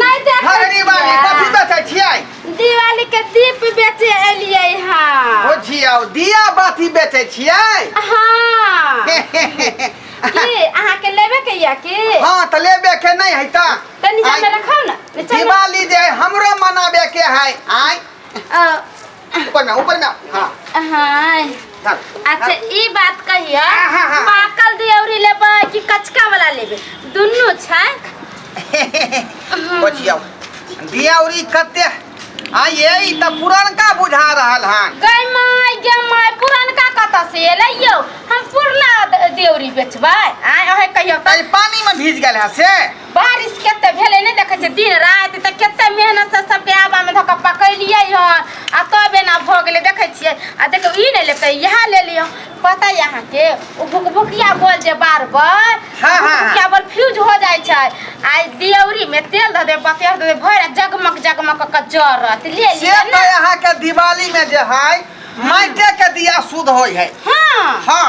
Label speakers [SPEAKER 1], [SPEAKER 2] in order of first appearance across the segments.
[SPEAKER 1] नहीं देख
[SPEAKER 2] हरनी बाली कथी
[SPEAKER 1] बेचै छियै दिवाली के
[SPEAKER 2] दीप बेचे एलिए हाँ ओ छियौ
[SPEAKER 1] दिया बाती बेचै छियै हाँ की
[SPEAKER 2] अहाँ के लेबे के या की हां त लेबे के
[SPEAKER 1] नै है त तनी जा आइ। में रखो
[SPEAKER 2] ना नीचा में- दिवाली जे
[SPEAKER 1] हमरो मनाबे के है आय अ, ऊपर ना ऊपर ना हाँ हाय
[SPEAKER 2] धर अच्छा ई बात कहिया हाँ, हाँ, हाँ। पाकल दियौरी लेबै कि कचका वाला लेबै दुनू छै
[SPEAKER 1] बचिया दिया उरी कते आ ये ई त पुरनका बुझा रहल हन गई माय गे
[SPEAKER 2] माय पुरनका कतऽ से एलै यौ हम पुरना द- दियौरी बेचबै आय अहे कहियो तै पानी में भीज
[SPEAKER 1] गेल है से बारिश कते
[SPEAKER 2] भेलै नहि देखै छै दिन राति तऽ कते मेहनत से सबके आबा में धक पकैलिए हन आ तब एना भऽ गेलै देखै छियै आ देखियौ ई नहि लेतै इएह ले लिअ पता यऽ अहाँके ओ भुकभुकिया बोल जे बार बार हाँ, हाँ, हाँ। भुकभुकिया बोल फ्यूज हो जाइ छै आ ई दियौरी में तेल धऽ दे बतेर धऽ दे भरि राति जगमग जगमग कऽ के जरत ले से लिअ तो ने यहाँ के
[SPEAKER 1] दिवाली में जे है माइटे के दिया शुद्ध होय है हाँ हाँ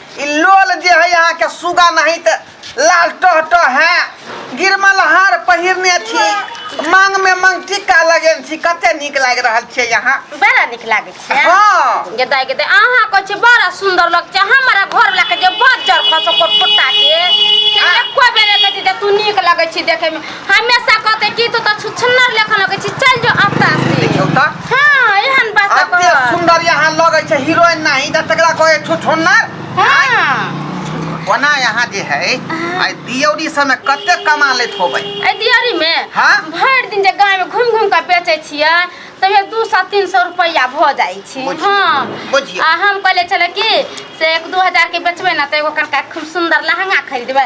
[SPEAKER 1] ई लोल जे है यहाँ के सुगा नहीं त लाल टह टह है गिरमल हार पहिरने छी मांग में मांग टिका लगेन छी कते नीक लाग रहल छै यहाँ बड़ा नीक लागै
[SPEAKER 2] छै हाँ गेदा
[SPEAKER 1] गेदा अहाँ
[SPEAKER 2] कहै छी बड़ा सुंदर लग छै हमरा घर वाला के जे बजर खसो कोट कोटा के से एको बेर कहै छी जे तू नीक लगै छी देखे में हमेशा कहते कि तू तो छुछुन्नर लेखा लगे छी चल जो अत्ता से देखियौ त हां
[SPEAKER 1] एहन बात
[SPEAKER 2] अते कर सुंदर यहाँ
[SPEAKER 1] लगै छै हीरोइन नहीं त तकरा कहै छुछुन्नर हां
[SPEAKER 2] ओना
[SPEAKER 1] यहाँ जे है आइ दियौरी सबमे कते कमा लैत होबै ए दियरी में
[SPEAKER 2] हाँ? भर दिन जे
[SPEAKER 1] गाय में
[SPEAKER 2] घूम घूम के बेचे छिए तबे 200 300 रुपया भ जाई छी बुझियौ, हां बुझियौ। आ हम
[SPEAKER 1] कहले चले
[SPEAKER 2] कि से एक दू हजार के बेचबे ना त एगो कनका खूब सुंदर लहंगा खरीदबे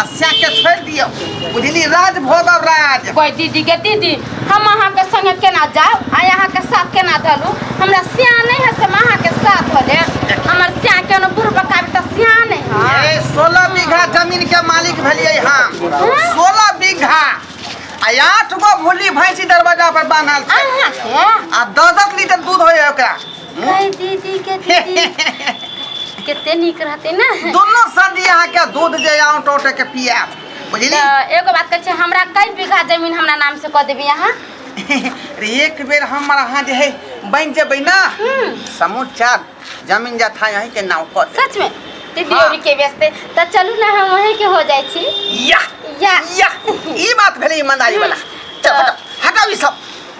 [SPEAKER 1] आ सएहके छोड़ि दियौ बुझली राज भोग और राज कोई दीदी के दीदी
[SPEAKER 2] हम अहाँ के संगे केना जाओ आ अहाँ के साथ केना धलू हमरा सिया नहीं है से हम अहाँ के साथ धले हमर सिया के न बुढ़ बकाबी त सिया नहीं है ए सोलह बीघा
[SPEAKER 1] जमीन के मालिक भेलियै हम सोलह बीघा आ आठ गो भूली भैंसी दरवाजा पर बान्हल छै अहाँ के आ
[SPEAKER 2] दस दस
[SPEAKER 1] लीटर दूध होय ओकरा ए दीदी
[SPEAKER 2] के दीदी कते नीक रहते ना दोनों संधि यहाँ
[SPEAKER 1] के दूध जे आऊं टोटे के पिया बुझली त एगो बात कहै छै
[SPEAKER 2] हमरा कई बीघा जमीन हमरा नाम से कऽ देबी अहाँ रे
[SPEAKER 1] एक बेर हमर अहाँ जे है बन जेबै ना हम्म, समूचा जमीन जथा यहीं के नाम कऽ दे सच में दीदी हाँ।
[SPEAKER 2] और के व्यस्ते त चलू ना हम वहीं के हो जाइ छी या या
[SPEAKER 1] या
[SPEAKER 2] ई बात
[SPEAKER 1] भेलै ईमानदारी वाला हम्म। चल हटाओ हटाओ ई सब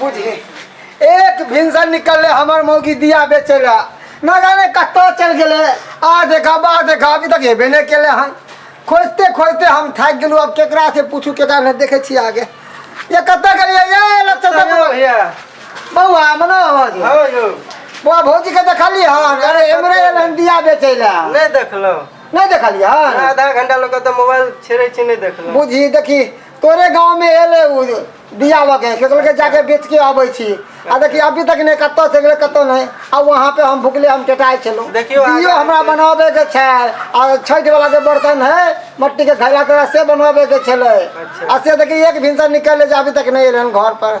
[SPEAKER 3] बुझी एक भिनसर निकलले हमर मौगी दिया बेचे ला न जाने कत्तो चल गेले आ देखा बा देखा अभी तक हेबे नहीं केले हन खोजते खोजते हम थक गेलू अब केकरा से पूछू केकरा नहीं देखे छी आगे ये कत्तो गेलिए ये लच्छा सब भैया
[SPEAKER 4] बउआ
[SPEAKER 3] मनो आवाज हो यौ
[SPEAKER 4] बउआ भौजी के
[SPEAKER 3] देखली हन अरे एमरे एलन दिया बेचे ला नहि देखलहुँ
[SPEAKER 4] नहीं देखली हन
[SPEAKER 3] आधा घंटा लोग तऽ
[SPEAKER 4] मोबाइल छेड़े छी नहि देखलहुँ बुझी देखी
[SPEAKER 3] तोरे गाँव में एले उ दिया लगे से कहलकै जाके बेच के अबै छी आ देखिए अभी तक नहीं कतौ से गेलै कतौ नहीं आ वहाँ पे हम भुखले हम टेटाइ छलहुँ देखियौ आगाँ दियो हमरा
[SPEAKER 4] देखियौ। बनाबे
[SPEAKER 3] के छै आ छठि वाला जे बर्तन है मट्टी के घड़ा तोरा से बनाबे के छलै अच्छा। आ से देखिए
[SPEAKER 4] एक भिनसर
[SPEAKER 3] निकल जे अभी तक नहीं एलै हन घर पर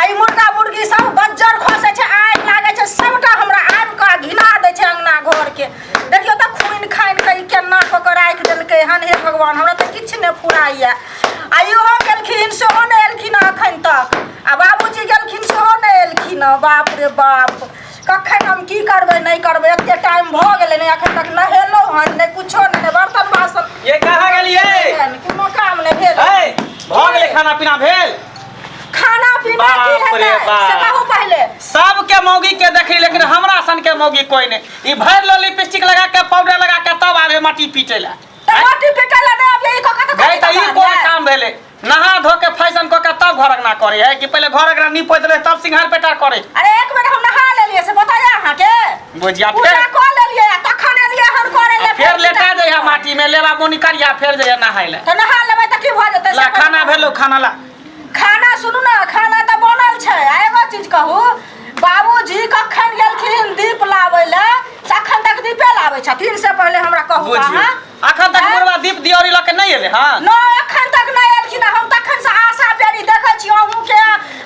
[SPEAKER 5] आ ई मुर्गा मुर्गी सब बज्जर खसे छै आगि लागे छै सबटा हमरा आबि कऽ घिना दै छै अंगना घर के देखियो तऽ खून खानि कऽ ई केना कऽ कऽ राखि देलकै हन हे भगवान हमरा तऽ किछु नहि फुराइए आ इहो गेलखिन सेहो नहि एलखिन हँ एखन तक आ बाबूजी गेलखिन सेहो नहि एलखिन हँ बाप रे बाप कखन हम की करबै नहि करबै एते टाइम भऽ गेलै ने एखन तक नहेलहुँ हन नहि कुछो नहि नहि बर्तन बासन ये कहाँ गेलियै कोनो काम नहि भेल है भऽ गेलै
[SPEAKER 6] खाना पीना भेल खाना पीना
[SPEAKER 5] की बाप रे हेतै बाप। से कहू
[SPEAKER 6] पहिले
[SPEAKER 5] सबके मौगी
[SPEAKER 6] के देखी लेकिन हमरा सन के मौगी कोई नहीं ई भर लो लिपस्टिक लगा के पाउडर लगा के तब आवे माटी पीटे ला त रोटी पिटे ला
[SPEAKER 5] दे अभी को कत गई त ई कोन काम
[SPEAKER 6] भेले नहा धो के फैशन क के तब घर अंगना करे है कि पहले घर अंगना नीपोत ले तब सिंगार पेटार करे अरे एक बेर हम नहा
[SPEAKER 5] लेलिए से बताया अहाँ के गोजिया पूजा फेर
[SPEAKER 6] कऽ लेलियै
[SPEAKER 5] आ तखन एलियै हन करै ले फेर लेटा जाइ है माटी
[SPEAKER 6] में लेबा बोनी करिया फेर जाइ है नहाय ले तऽ नहा लेबै तऽ की भऽ
[SPEAKER 5] जेतै ला से खाना पहिले- भेलो खाना
[SPEAKER 6] ला खाना सुनू
[SPEAKER 5] ने खाना तऽ बनल छै आ एगो चीज कहू बाबूजी कखन गेलखिन दीप लाबै लए से अखन तक दीपे लाबै छथिन से पहिले हमरा कहू बुझियौ। अहाँ अखन
[SPEAKER 6] तक
[SPEAKER 5] बुढ़वा दीप
[SPEAKER 6] दियोरी लऽ के नहि एले हँ न एखन तक नहि
[SPEAKER 5] एलखिन हम तखन से आशा बेरी देखै छी अहूँ के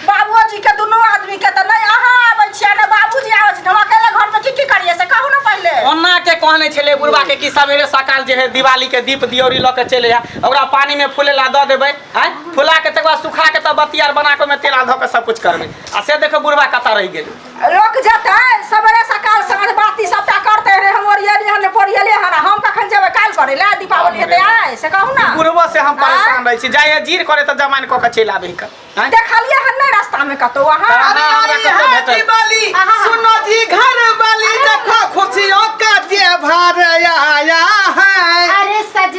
[SPEAKER 5] बाबूजी के दुनू आदमी के तऽ नहि अहाँ आबै छियै ने बाबूजी आबै छी हम अकेले घर में की की करिए से कहू ने पहिले ओना के कहने
[SPEAKER 6] छले बुढ़वा के कि सवेरे सकाल जे है दिवाली के दीप दियोरी लऽ के चले आ ओकरा पानी में फूले ला दऽ देबै हैं फुला के तकर बाद सुखा के तब बतियार बना के ओहिमे तेल आ धऽ के सब कुछ करबै आ से देखो बुढ़वा कतऽ रहि गेलै लोक जेतै
[SPEAKER 5] सबेरे सकाल साँझ बाती सबटा करते रे हम ओरियली हन पोरियले हन हम कखन जेबै काल करे ले दीपावली हेतै आइ से कहू ना बुढ़बो से हम परेशान
[SPEAKER 6] रहै छी जाइए जीर करे तऽ जमाइन कऽ के चलि आबै हिक आँय? देखलिए हन नै रास्ता
[SPEAKER 5] में कतौ अहाँ अहाँ अरे हमरा आई कतऽ है भेटल?
[SPEAKER 6] दिवाली आहा। सुनो
[SPEAKER 1] जी घर वाली देखो खुशियों का त्योहार आया है अरे सज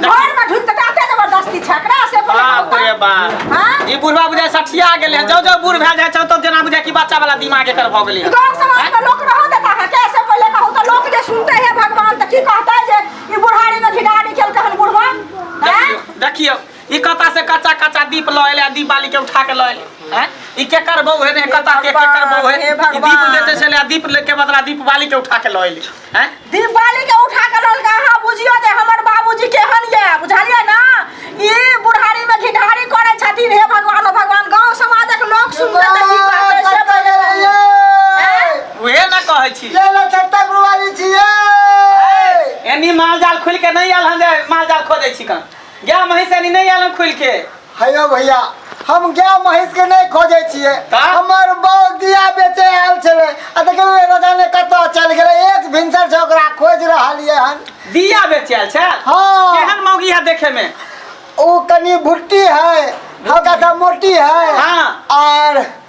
[SPEAKER 5] घर में ढुक तटा ते जबरदस्ती छकरा से बोले बाप रे बा
[SPEAKER 6] हां ई बुढ़वा बुझा सठिया गेले हैं। जाओ जाओ बूढ़ भए जाए छौ तो जेना बुझा कि बच्चा वाला दिमाग एकर भऽ गेलै हैं। गांव समाज में लोग
[SPEAKER 5] रहो देता है कैसे बोले कहू तो लोग जे सुनते हैं भगवान तो की कहता है जे ई बुढ़ारी में घिडा निकल कहन बुढ़वा हैं? देखियो
[SPEAKER 6] देखियो ई कता से कच्चा कच्चा दीप लऽ एलै आ दीप बाली के उठा के लऽ एलै हैं? ई केकर बहू है ने कता के केकर बहू है हे ई दीप भगवान। लेते छलै आ दीप ले के बदला दीप बाली के उठा के लऽ एलै हैं? दिवाली के उठा
[SPEAKER 5] के ललका अहाँ बुझियो जे हमर बाबूजी केहन ये बुझलियै ना ई बुढ़ारी में घिढारी करै छथिन हे भगवान ओ भगवान गांव समाजक लोग सुनते तऽ की कहतै से बजबै। हैं? उहे
[SPEAKER 6] ना कहै छी ले ले छत्ता गुरुवारी
[SPEAKER 3] छियै एनी माल जाल
[SPEAKER 6] खुल के नहीं आयल हम जे माल जाल खोदै छी कन गाय महींस एनी नहीं आयल हम खुल के हयो भैया
[SPEAKER 3] हम गाय महीस के नहीं खोजे छिए का? हमर बौ दिया बेचे आयल छले आ देखले राजा ने कतो चल गेले एक भिनसर से ओकरा खोज रहल ये हन दिया बेचल
[SPEAKER 6] छै हाँ। केहन मौगी
[SPEAKER 3] है देखे
[SPEAKER 6] में ओ कनी
[SPEAKER 3] भुट्टी है हल्का सा मोटी है हाँ। और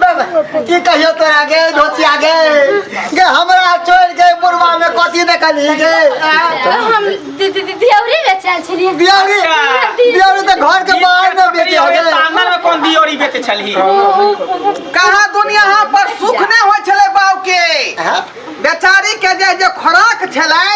[SPEAKER 3] बाबा की कहियो तोरा गे धोतिया गे गे हमरा छोड़ के बुढ़वा में कथी देखली गे आ? हम
[SPEAKER 2] दि- दि- दि- दियौरी बेचल छलियै दियारी अच्छा।
[SPEAKER 3] दियारी तो घर के बाहर में बेचे हो गे आंगन में कौन दियोरी
[SPEAKER 6] बेचे छलही
[SPEAKER 1] कहा दुनिया यहाँ पर सुख नहीं हो छले बाऊ के हाँ? बेचारी के जे जे खोराक छलै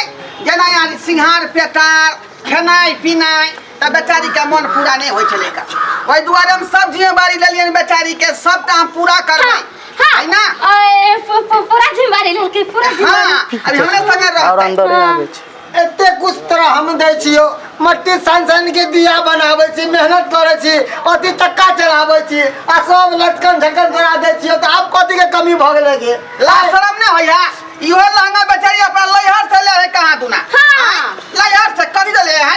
[SPEAKER 1] जेना यानी सिंहार पेटार खेनाइ पिनाइ तऽ बेचारीके मन पूरा नहि होइ छलै का ओहि दुआरे हम सब जिम्मेवारी लेलियै बेचारीके सबटा हम पूरा करबै है ना ओए, पू- पू- पूरा जिम्मेवारी लेलकै पूरा
[SPEAKER 2] हाँ जिम्मेवारी अभी हमरे संगे
[SPEAKER 1] और रहतै अंदर आबै छै एते कुछ
[SPEAKER 3] तरह हम दै छियो मट्टी सान सान के दिया बनाबै छी मेहनत करै छी अथी चक्का चलाबै छी आ सब लटकन झटकन करा दै छियो तऽ आब कथी के कमी भऽ गेलै जे ला शरम ने
[SPEAKER 1] होइया इहो लहंगा बेचारी अपना लैहर से ले है कहाँ दुना हाँ। लैहर से कभी ले है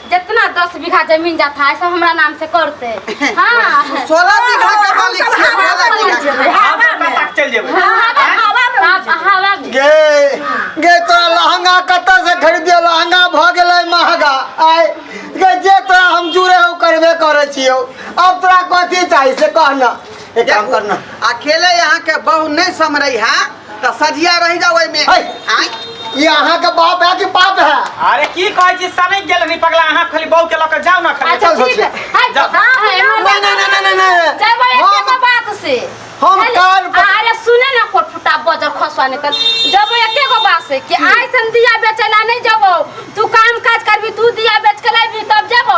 [SPEAKER 2] जितना दस बीघा जमीन जाता है सब हमरा नाम से करते हाँ सोलह बीघा
[SPEAKER 1] के मालिक छियै, सोलह बीघा के। हम पता तक चल
[SPEAKER 6] जेबै आप
[SPEAKER 2] हवा में
[SPEAKER 3] गे गे तोरा लहंगा कतऽ से खरीदियो लहंगा भऽ गेलै महंगा आय गे जे तोरा हम जुड़े हो करबे करै छियौ आब तोरा कथी चाही से कहना एक काम करना अकेले यहाँ के
[SPEAKER 1] बहु नहीं समरे है तो सजिया रह जाओ में है। आय ई अहाँ के
[SPEAKER 3] बाप है कि पाप है अरे की कहै छी
[SPEAKER 6] सनै गेल रही पगला अहाँ खाली बहू के लऽ कऽ जाउ ना खाली अच्छा ठीक है हाय जा।
[SPEAKER 2] हां है नहीं नहीं नहीं नहीं
[SPEAKER 3] नहीं जय भाई हम- एके बात
[SPEAKER 2] से हम हेलो, कान
[SPEAKER 3] पर- अरे सुने ना
[SPEAKER 2] कोट फुटा बजर खसवा निकल जब एके गो बात से कि आइसन दिया बेचला नहीं जबो तू काम काज करबी तू दिया बेच के लाबी तब जबो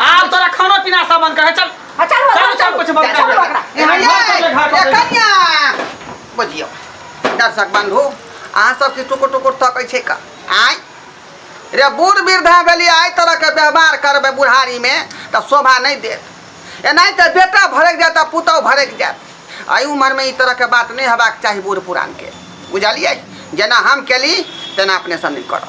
[SPEAKER 6] आब तोरा खाना पीना सब बंद कर चल हाँ, चल वो, चल, चल, चल, कुछ बंद चल, कर चल, बकरा। यहाँ ये, घर पर ले, घर पर ये ले। कन्या।
[SPEAKER 1] बुझियौ दर्शक बंधु अहाँ सबके टुकुर टुकुर तकै छै का आय रे बूढ़ वृद्धा भेली आइ तरहके व्यवहार करबै बुढ़ारीमे तऽ शोभा नहि देत एनाहि तऽ बेटा भड़कि जायत आ पुतहु भड़कि जायत एहि उमरमे ई तरहके बात नहि हेबाक चाही बूढ़ पुरानके बुझलियै जेना हम केली तेना अपने सब नहि करब